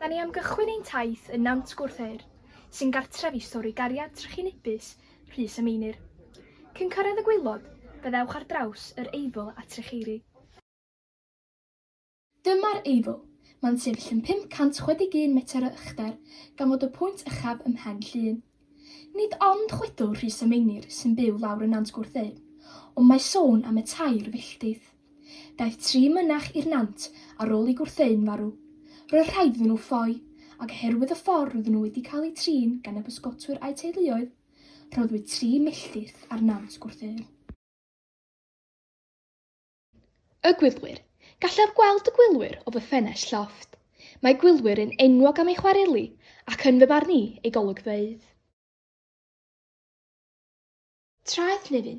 Da ni am gychwyn ein taith yn Nant Gwrtheyrn, sy'n gartref i stori gariad trychinebus Rhys a Meinir. Cyn cyrraedd y gwaelod, fe ddewch ar draws yr Eifl a Trecheiri. Dyma'r Eifl. Mae'n sefyll yn 561 metr o uchder, gan fod y pwynt uchaf ym Mhen Llŷn. Nid ond chwedl Rhys a Meinir sy'n byw lawr yn Nant Gwrtheyrn, ond mae sôn am y tair filltydd. Daeth tri mynach i'r Nant ar ôl i Gwrtheyrn farw. Roedd rhai iddyn nhw ffoi, ac oherwydd y ffordd roedden nhw wedi cael eu trin gan y bysgotwyr a'u teuluoedd, rhoddwyd tri milltir ar Nant Gwrtheyrn. Y Gwylwyr. Gallaf gweld y gwylwyr o fy ffenest llofft. Mae gwylwyr yn enwog am eu chwareli ac yn fy marn i, eu golygfeydd. Traeth Nefyn.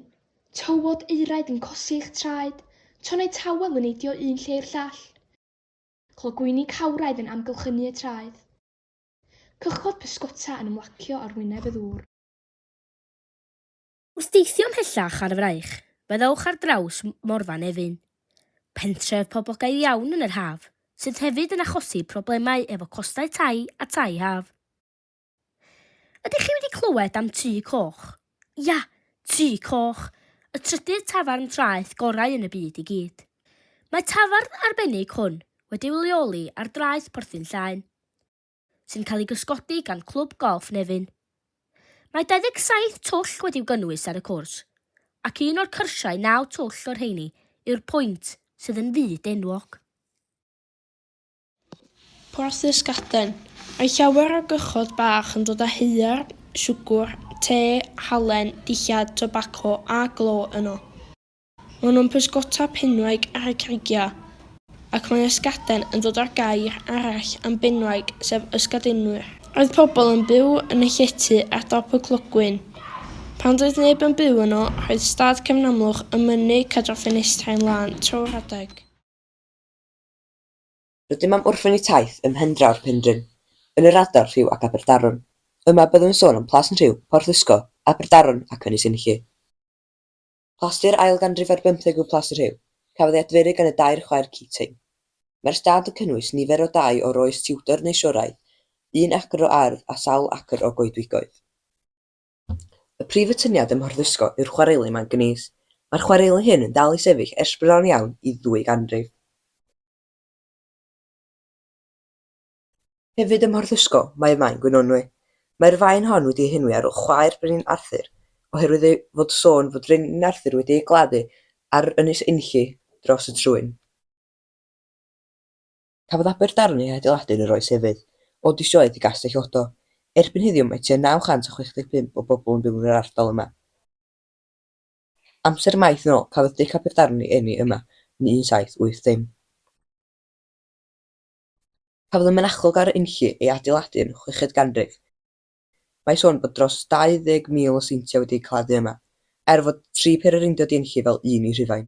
Tywod eiraid yn cosi eich traed, tonnau tawel yn neidio un lle i'r llall, clogwyni cawraidd yn amgylchynu y traeth, cychod pysgota yn ymlacio ar wyneb y ddŵr. Wrth deithio ymhellach ar y fraich, byddwch ar draws Morfa Nefyn, pentref poblogaidd iawn yn yr haf, sydd hefyd yn achosi problemau efo costau tai a tai haf. Ydych chi wedi clywed am Tŷ Coch? Ia, Tŷ Coch, y trydydd tafarn traeth gorau yn y byd i gyd. Mae tafarn arbennig hwn wedi'i leoli ar draeth Porthin Llaen. sy'n cael ei gysgodi gan Clwb Golff Nefyn. Mae 27 twll wedi'w gynnwys ar y cwrs, ac un o'r cyrsiau naw twll o'r rheini yw'r pwynt sydd yn fyd enwog. Porthus Gaden. Mae llawer o gychod bach yn dod â haear, siwgr, te, halen, dillad, tobaco a glo yno. Maen nhw'n pysgota penwaig ar y creigiau, ac mae ysgaden yn dod â'r gair arall am benwaig, sef ysgadinwyr. Roedd pobl yn byw yn y llety ar dop y clogwyn. Pan doedd neb yn byw yno, roedd stad cefn amlwch yn mynnu cadw'r ffenestrau'n lân trwy'r adeg. Rydym am orffen y taith ym Mhendraw'r Penrhyn, yn yr ardal rhyw ac Aberdaron. Yma byddwn yn sôn am Plas yn Rhiw, Porthysgo, Aberdaron ac Ynys Enlli. Plasti'r ail ganrif ar bymtheg yw Plas y Rhiw. Cafodd ei adferu gan y dair chwaer Keating. Mae'r stad yn cynnwys nifer o dai o'r oes Tudor neu Sioraidd, un acr o ardd a sawl acr o goedwigoedd. Y prif atyniad ym Mhorthysgo yw'r chwareli manganîs. Mae'r chwareli hyn yn dal i sefyll ers bron iawn i ddwy ganrif. Hefyd ym Mhorthysgo mae Maen Gwynonwy. Mae'r faen hon wedi ei henwi ar ol chwaer Brenin Arthur, oherwydd ei fod sôn fod Brenin Arthur wedi ei gladdu ar Ynys Enlli dros y Trwyn. Cafodd Aberdarn ei hadeiladu yn yr oes efydd, o dysioedd i Gastell Odo. Erbyn heddiw mae tua 965 o bobl yn byw yn yr ardal yma. Amser maith yn ol cafodd Dic Aberdarn ei eni yma yn 1780. Cafodd y mynachlog a'r unllu ei adeiladu yn y chweched ganrif. Mae sôn bod dros 20,000 o seintiau wedi eu claddu yma, er fod tri pher yr undod i unllu fel un i Rhufain.